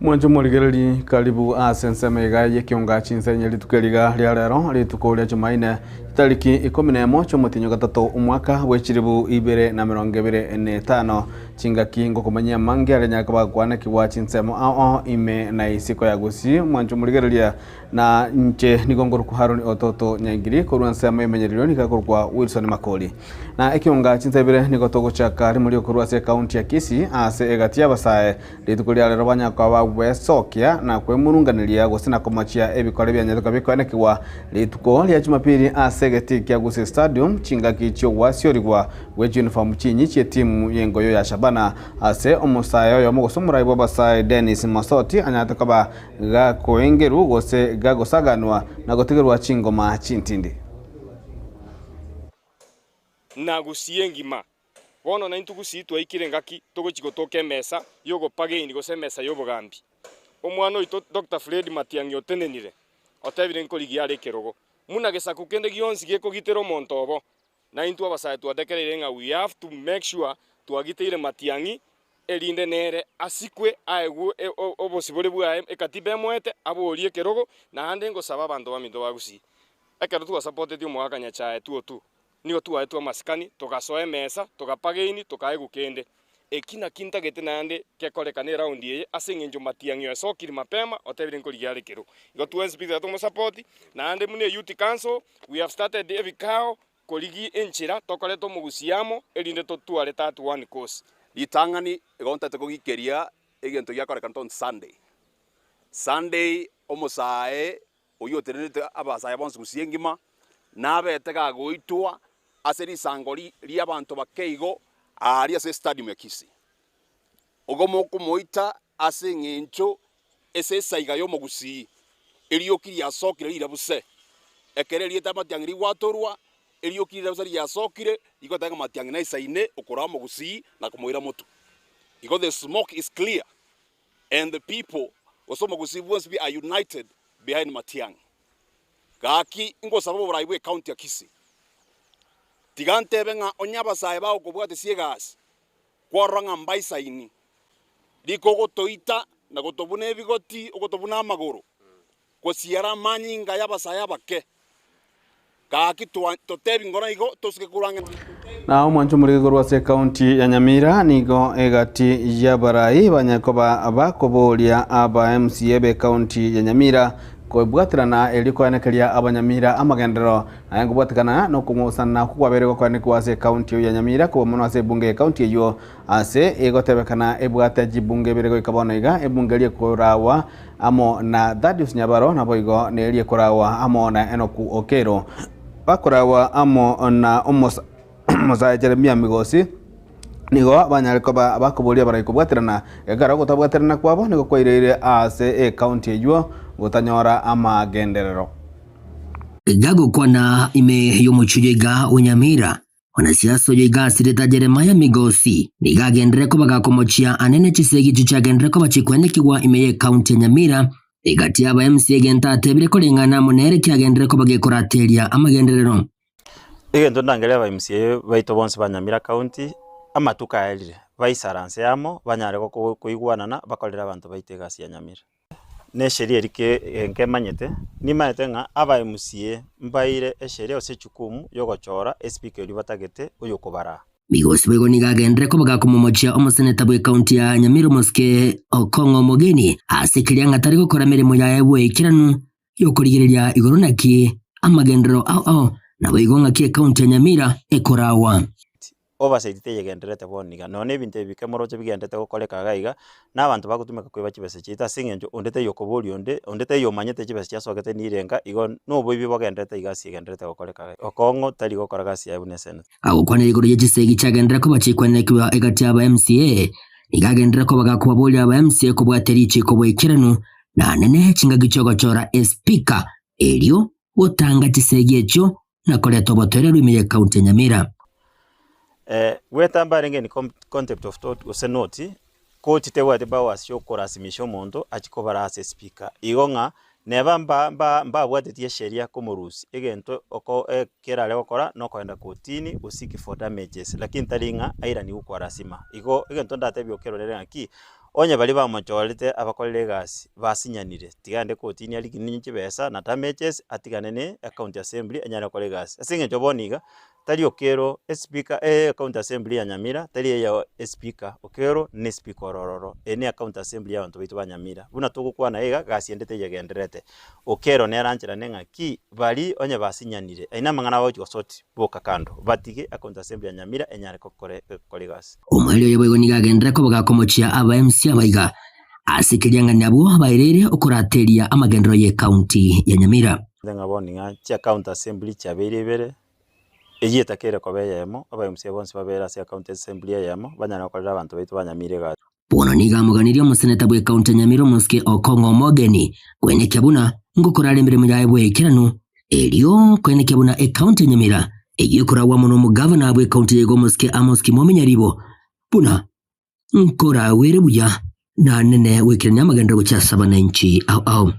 Mwanche morigereri karibu ase ensemo iga y'ekionga chinsenye rituko eriga ria rero rituko ria chimaine tariki ikomi na emo chiomotinyo gatato omwaka bw'echiribu ibere na mirongo ebere na etano chingaki ngokomanyia amange aria nyakaba gokwanekigwa chinsemo ao ime na isiko ya gusii mwanche morigereria Na inche nigo ngorokwa Haroni Ototo Nyaigiri korwa ensemo y'emenyererio nigo akorokwa Wilson Makori. Na ekionga chinsa ibere nigo togochaka rimori okorwa ase ekaunti ya Kisii ase egati y'abasae. Rituko ria rero banyakoa bagwesokia na kwemurunganeria gose na komochia ebikore bianyete koba bikoenekigwa rituko ria Jumapili ase egetii kia Gusii Stadium chingaki chi'ogwasiorigwa gwe chiuniform chinyi chi'etimu y'engoyo ya Shabana ase omosae oyomo gose omorai bw'abasae Dennis Mosoti anyarete koba gakoengerwa gose gagosaganwa na gotigerwa chingoma chintindi. Na gusii engima. Bono naintwe gusii twaikire engaki togochia gotoka emesa y'ogopageini gose emesa y'obogambi. Omwana oito Doctor Fred Matiang'i otenenire, otebire nkorigia are ekerogo, Muna gesaku kende gionsi gekogitera omonto obo. Na intwe abasae twatekereire ng'a we have to make sure twagiteire Matiang'i erinde nere asikwe aegwe obosibore bwaye ekatiba emoete aborie ekerogo naende ngosaba abanto baminto ba Gusii ekero twasapoteti omogakanyachae tuotu nigo twaetwe amasikani togasoa emesa togapageini tokaegwa kende Eki nakio ntagete naende gekorekana eraundi eye ase engencho Matiang'i oesokiri mapema otebire nkorigia are kero igo twensi pisae tomosapoti naende buna eyouth council we have started ebikao korigia enchera tokoreta omogusia amo erinde totware tatu one cause Ritang'ani igo ntagete kogikeria egento giakorekana on Sunday. Sunday omosae Oyotenenetie abasaya bonsi gusii engima, nabete gagoitwa ase risango ri'abanto bake igo aaria ase Stadium ya Kisii. Ogo mokomoita ase engencho ase esaiga y'omogusii erioki riasokire rirabu se. Ekero erieta y'amatiang'i rigwatorwa, erioki rirabu se riasokire rigotenga amatiang'i na isaine okoraa omogusii na komoira motu. Igo the smoke is clear. And the people, gose omogusii bwonsi bia are united behind Matiang'i. Gaki ngosaba oborai bwe county ya Kisii. Tiga ntebe ng'a onye abasae bagokobwate sie egasi, kwarora ng'a mbaisaini. Riko ogotoita na gotobuna ebigoti, ogotobuna amagoro, Gosiara amanyinga y'abasae abake. Gaki totebi ngoro igo tosuke korwa ng'ende. Na omwancho omorike korwa ase ekaunti ya Nyamira nigo egati y'abarai banyekoba bakoboria aba MCA b'ekaunti ya Nyamira kobwaterana erio koenekeria abanyamira amagenderero aye nkobwatekana nokong'usanana okwo kwabeire gokoenekwa ase ekaunti eyio ya Nyamira koba mono ase ebunge y'ekaunti eyio Ase igotebekana ebwate chibungo ibere goika bono iga, ebunge ri'ekoraagwa amo na Thaddeus Nyabaro naboigo neri'ekoraagwa amo na Enoku Okeiro, bakoraagwa amo na omosa omosae Jeremia Migosi, nigo banyare koba abakoboria barai kobwaterana, ekero ogotabwaterana kwabo nigo kwaireire aase ecounty eyuo gotanyora amagenderero. Tiga gokwana ime y'omochie iga o Nyamira, Onasiasi oyo iga asireta Yeremia migosi, nigo agenderere kobaga komochia ane ne chisegi echi chiagenderere koba chikwenekigwa ime y'ecounty ya Nyamira, egati aba MC egento atebire koreng'ana amo nere kiagenderere koba gekorateria amagenderero. Egento ndangerie aba MC baito bonsi ba Nyamira County, amatuko aerire, baisaranse amo, banyare gokoigwanana, bakorere abanto baito egasi ya Nyamira. nesheria eri ke nkemanyete, nimanyete ng'a abaMCA mbaeire esheria gose echukumu yogochora esipika erio batagete oyokobaraa. Migosi boigo nigo agenderere koba gakomomochia omoseneta bwe county ya Nyamira Omoske Okong'o Omogeni ase keria ng'a tari gokora emeremo yaye bw'oikeranu y'okorigereria igoro naki amagenderero ao ao naboigo ng'aki ekaunti ya Nyamira ekoragwa. Oversight teyegendererete bono iga, nonya nebinto ebi bike moroche bigendererete gokoreka iga iga, na abanto bagotumeka koiba chibesa chiaito ase eng'encho onde taiyo okoboria onde, onde taiyo omanyete chibesa chiasogete nirenga, igo noboibi bogendererete iga ase egendererete gokoreka iga iga. Okong'u tari gokora gasi yaye buna eseneto. agokwanera igoro ye chisegi chiagenderera koba chiakwenekigwa egati y'aba MCA, nigo agenderera koba gakobaboria aba MCA kobwate richiiko boikeranu, na nene chingaki chi'ogochora Espika, erio gotanga chisegi echio na koreta obotoeria rw'ime ye County ya Nyamira. Gwetamba arenge in contempt of tort gose noti Ko chitebwati bawasi y'okorasimisha omonto achie kobara ase esipika, igo ng'a neba mbabwatetie esheria komorusia, egento kerare gokora nokoenda kotini go seek for damages, lakini tari ng'a airanigwe kwa lasima. Igo egento ndatebie okerorere ng'aki, onye baria bamochorete abakorire egasi basinyanire, tiga aende kotini arigininye chibesa na damages atigane ne ecounty assembly enyare gokora egasi. Ase eng'encho bono iga. Tari okero esipika e County Assembly ya Nyamira tari eye esipika okero ne sipika ore ororo eye ne County Assembly ya abanto baito ba Nyamira buna togokwana iga gasi endete eyegendererete okero nere anchera neng'aki bari onye basinyanire aye namang'ana abagochi gosoti boka kando batige a County Assembly ya Nyamira enyare gokore gokora egasi. Omweri oyo boigo nigo agenderere koba gakomochia aba MC abaiga ase keriang'anio abwo baereire okorateria amagenderero ye County ya Nyamira. Ng'a bono ng'a chia County Assembly chiabeire ibere. Eyio etakeire koba eyemo, abaemusia bonsi babeire ase ecounty assembly eyemo, banyare gokorera abanto baito ba Nyamira egati. Bono nigo amoganirie omoseneta bwe county ya Nyamira Omosuke Okong'o Omogeni, koenekia buna ngokorara emeremo yaye bweikeranu, erio koenekia buna ecounty ya Nyamira eyio ekoragwa amo nomogavana bwe county ya iga Omosuke Amos Kimomi Nyaribo, buna. Nkoragwere buya, nanene goikerania amagenda gochia ase abananchi ao ao.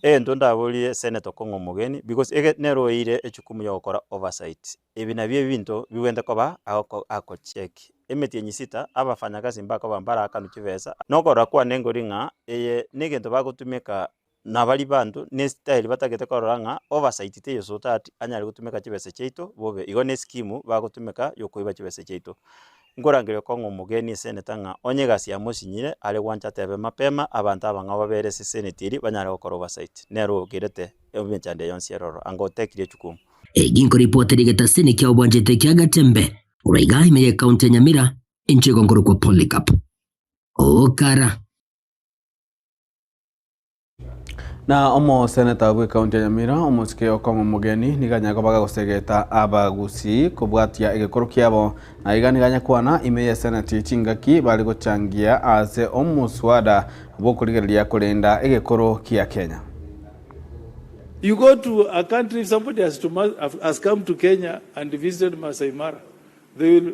Egento ndaboorire Senator Kong'o Omogeni, because eke nere oeire echukumu y'ogokora oversight, ebi nabio ebinto bigwente koba agoko agocheck emetienyi sita abafanyakazi mbakoba mbaraakanwe chibesa, na okorora kwane nkori ng'a eye negento bagotumeka na baria banto nesitayeri batagete korora ng'a obasaiti teyosa otati anyare gotumeka chibesa chiaito bobe, igo nesikimu bagotumeka yokoiba chibesa chiaito. Nkorangeria okong'a omogeni eseneta ng'a onye egasi yamo osinyire, are gwancha atebe mapema abanto abang'ao babere ase eseneti eria banyare gokora obasaiti. Nere ogerete emechando eye yonsi ere ororo, anga otekirie echukumu. Egi nkoripota ere egetasi nikia obwanchete kia Gatembe. Korwa iga ime ye county ya Nyamira inche igo nkorokwa Polycarp Okara. Na omoseneta bw'ekaunti ya Nyamira, omosike okong'u omogeni, nigo anyare koba agagosegeta abagusii kobwatia egekoro kiabo, na iga nigo anyakwana ime y'eseneti chingaki bare gochangia ase omoswada bw'okorigereria korenda egekoro kia Kenya. You go to a country if somebody has to has come to Kenya and visited Maasai Mara they will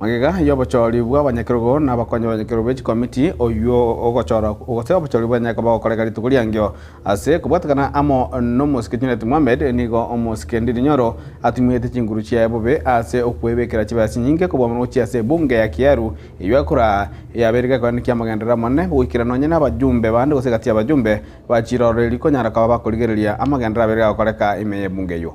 Magega y'obochori bw'abanyakerogo na abakonyi b'abanyakerogo be chikomiti, oyio ogochora gose obochori bw'enye koba gokoreka rituko ri'engencho. Ase kobwatekana amo n'omosike Junet Mohamed, nigo omosike Ndindi Nyoro atumete chinguru chiaye bobe ase okwebekera chibesa chinyinge kobua roche ase ebunge ya Kieru, eyio ekora yabeire gekoenda ki'amagenderero amanene goikera nonye nabajumbe bande gose egati y'abajumbe ba chirororeri konyara koba bakorigereria amagenderero abeire gagokoreka ime y'ebunge eyio.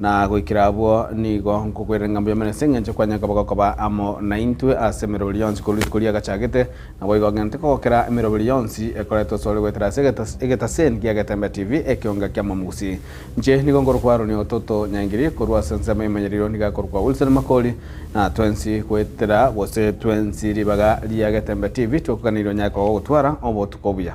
Na goikera abwo nigo nkogwerera ing'ambo y'Omonene ase engencho kwanyare koba gokoba amo naintwe ase emeroberi yonsi korwa rituko riagachagete, naboigo ogente kogokera emeroberi yonsi ekoretwe asore goetera ase egetas egetaseni gia Getembe TV ekeonga kia Mwamogusi. Inche nigo nkorokwa Aroni Ototo Nyangiri, korwa ase ensemo y'Emanyererio nigo akorokwa Wilson Makori, na twensi goetera gose twensi ribaga ria Getembe TV twekoganeirie onyare koba ogotwara obotuko obuya.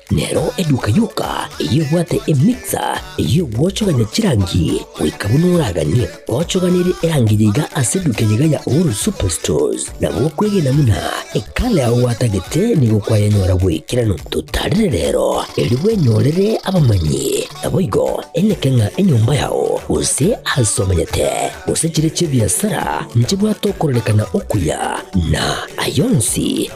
Nero eduka yoka eyio ebwate emixer eyio gwochogania chirangi goika buna oraganie gochoganirie erangi yaiga ase eduka eyaiga ya Uhuru Superstores. Na gokwegena buna ekala yao gwatagete nigo kwayanyora bw'ekerano. Totarire rero erio bwenyorere abamanyi, naboigo eneke ng'a enyomba yao, gose aase omanyete, gose chire chi'ebiasara nchibwate okorarekana okuya, na ay'onsi,